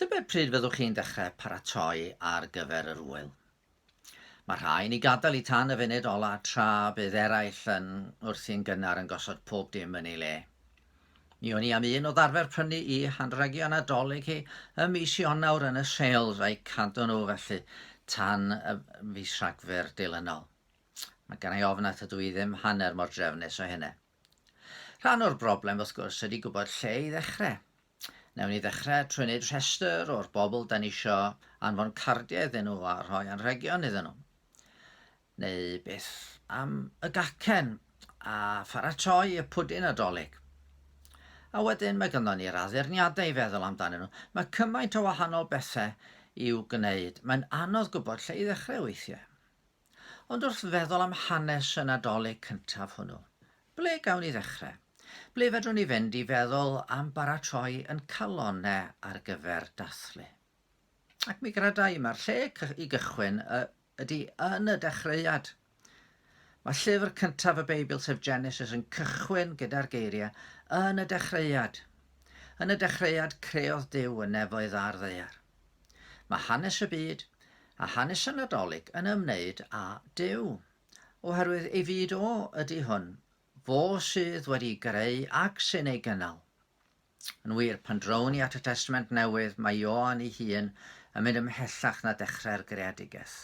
Tybed pryd fyddwch chi'n dechrau paratoi ar gyfer yr ŵyl? Mae rhai yn ei gadael i tan y funud ola tra bydd eraill yn wrthi'n gynnar yn gosod pob dim yn ei le. Mi o'n i am un o ddarfer prynu i hanrhegion Nadolig hi ym mis Ionawr yn y sales a'i cadw nhw felly tan y fis Rhagfyr dilynol. Mae gan i ofn at ydw i ddim hanner mor drefnus o hynna. Rhan o'r broblem wrth gwrs ydy gwybod lle i ddechrau. Newn ni ddechrau trwy wneud rhestr o'r bobl da ni isio anfon cardiau iddyn nhw a rhoi anrhegion iddyn nhw. Neu beth am y gacen a pharatoi y pwdin adolyg. A wedyn mae gynddon ni'r addurniadau i feddwl amdanyn nhw. Mae cymaint o wahanol bethau i'w gwneud, mae'n anodd gwybod lle i ddechrau weithiau. Ond wrth feddwl am hanes y Nadolig cyntaf hwnnw, ble gawn ni ddechrau? Ble fedrwn ni fynd i feddwl am baratoi yn calonnau ar gyfer dathlu? Ac mi gredai mae'r lle i gychwyn ydy yn y dechreuad. Mae llyfr cyntaf y Beibl, sef Genesis, yn cychwyn gyda'r geiriau yn y dechreuad. Yn y dechreuad creodd Duw y nefoedd a'r ddeiar. Mae hanes y byd a hanes y Nadolig yn ymwneud â Duw, oherwydd ei fyd o ydy hwn, fo sydd wedi greu ac sy'n ei gynnal. Yn wir, pan drown ni at y Testament Newydd, mae Ioan ei hun yn mynd ymhellach na dechrau'r greadigaeth.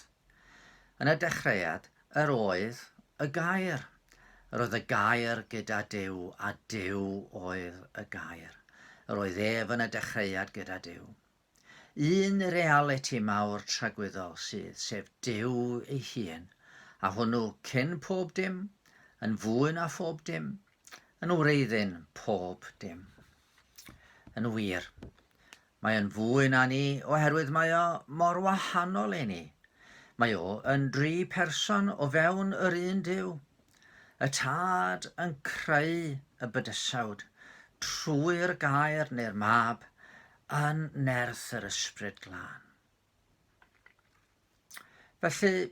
Yn y dechreuad, yr oedd y Gair. Yr oedd y Gair gyda Duw, a Duw oedd y Gair. Yr oedd ef yn y dechreuad gyda Duw. Un realiti mawr tragwyddol sydd, sef Duw ei hun, a hwnnw cyn pob dim, yn fwy na phob dim, yn wreiddyn pob dim. Yn wir, Mae o'n fwy na ni oherwydd mae o mor wahanol i ni. Mae o yn dri person o fewn yr un Duw. Y Tad yn creu y bydysawd trwy'r Gair neu'r Mab yn nerth yr Ysbryd Glân. Felly,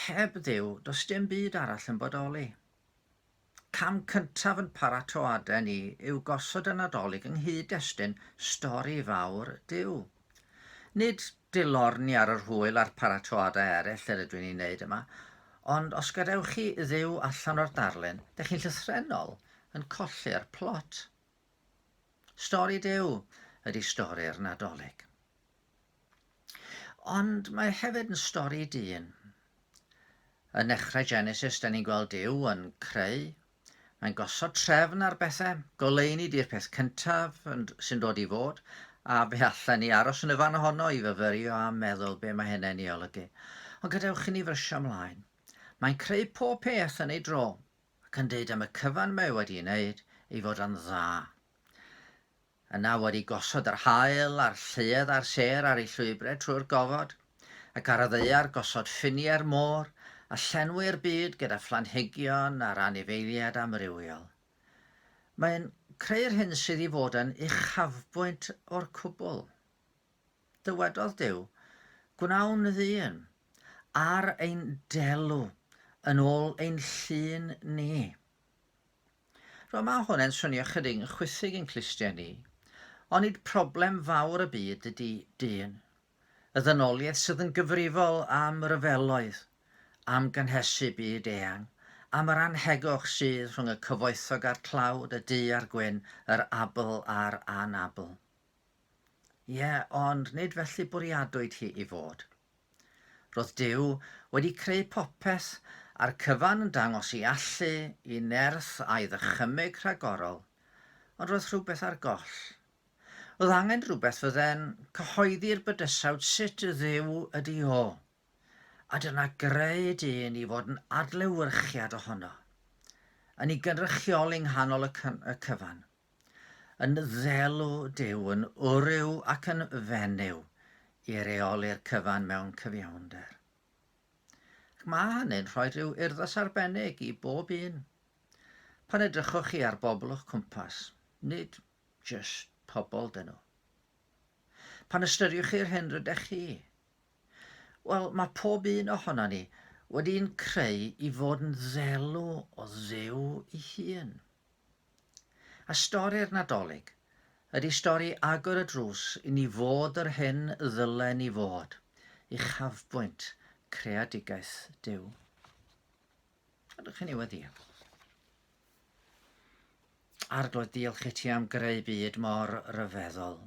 Heb Dduw, does dim byd arall yn bodoli. Cam cyntaf yn paratoadau ni yw gosod y Nadolig yng nghyd-destun stori fawr Duw. Nid dilorni ar yr hwyl a'r paratoadau eraill yr ydw i'n ei wneud yma, ond os gadewch chi Dduw allan o'r darlun, dych chi'n llythrennol yn colli'r plot. Stori Duw ydy stori'r Nadolig. Ond mae hefyd yn stori dyn. Yn nechrau Genesis, da ni'n gweld Duw yn creu. Mae'n gosod trefn ar bethau, goleuni di'r peth cyntaf sy'n dod i fod, a fe allan ni aros yn y fan ohono i fyfyrio a meddwl be mae hynny'n ei olygu. Ond gadewch i ni frysio ymlaen. Mae'n creu pob peth yn ei dro, ac yn dweud am y cyfan mae wedi'i wneud ei fod yn dda. A nawr i gosod yr haul a'r lluedd a'r sêr ar ei llwybrau trwy'r gofod, ac ar y ddaear gosod ffiniau'r môr, a llenwi'r byd gyda phlanhigion a'r anifeiliaid amrywiol. Mae'n creu'r hyn sydd i fod yn uchafbwynt o'r cwbl. Dywedodd Duw, Gwnawn ddyn, ar ein delw, yn ôl ein llun ni. Rwan mae hwn yn swnio chydig yn chwithig yn clustiau ni. Ond nid problem fawr y byd ydy dyn. Y ddynoliaeth sydd yn gyfrifol am ryfeloedd, am gynhesu byd eang, am yr anhegwch sydd rhwng y cyfoethog a'r tlawd, y du a'r gwyn, yr abl a'r anabl. Ie, ond nid felly bwriadwyd hi i fod. Roedd Duw wedi creu popeth a'r cyfan yn dangos ei allu i nerth a'i ddychymyg rhagorol, ond roedd rhywbeth ar goll. Roedd angen rhywbeth fydde'n cyhoeddi'r bydysawd sut Dduw ydi o, a dyna greu dyn i fod yn adlewyrchiad ohono, yn ei gynrychioli nghanol y cyfan. Yn ddelw Duw, yn wryw ac yn fenyw i reoli'r cyfan mewn cyfiawnder. Ac mae hynny'n rhoi rhyw urddas arbennig i bob un. Pan edrychwch chi ar bobl o'ch cwmpas, nid just pobl dyn nhw. Pan ystyriwch chi'r hyn rydych chi, wel, mae pob un ohono ni wedi'n creu i fod yn ddelw o ddew i hun. A stori'r Nadolig ydy stori agor y drws i ni fod yr hyn y ddylen ni fod, uchafbwynt creadigaeth Duw. Ydych chi'n ei weddio? Arglwydd, diolch i ti am greu byd mor ryfeddol.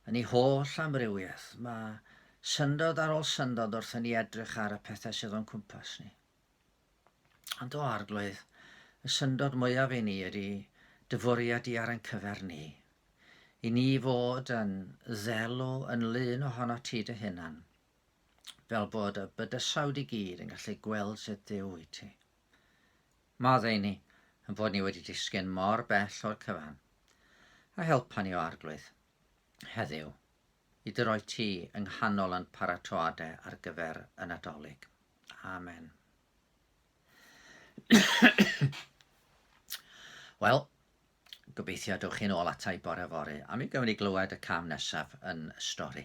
Yn ei holl amrywiaeth, mae syndod ar ôl syndod wrth i ni edrych ar y pethau sydd o'n cwmpas ni. Ond o arglwydd, y syndod mwyaf i ni ydy dy fwriad di ar ein cyfer ni. I ni fod yn ddelw yn lun ohono ti dy hunan, fel bod y bydysawd i gyd yn gallu gweld sut dduw wyt ti. Maddau ni yn bod ni wedi disgyn mor bell o'r cyfan, a helpa ni o arglwydd, heddiw, i dy roi ti yng nghanol yn paratoade ar gyfer y Nadolig. Amen. Wel, gobeithio dywch chi'n ôl atai bore fory, a mi gymryd i glywed y cam nesaf yn y stori.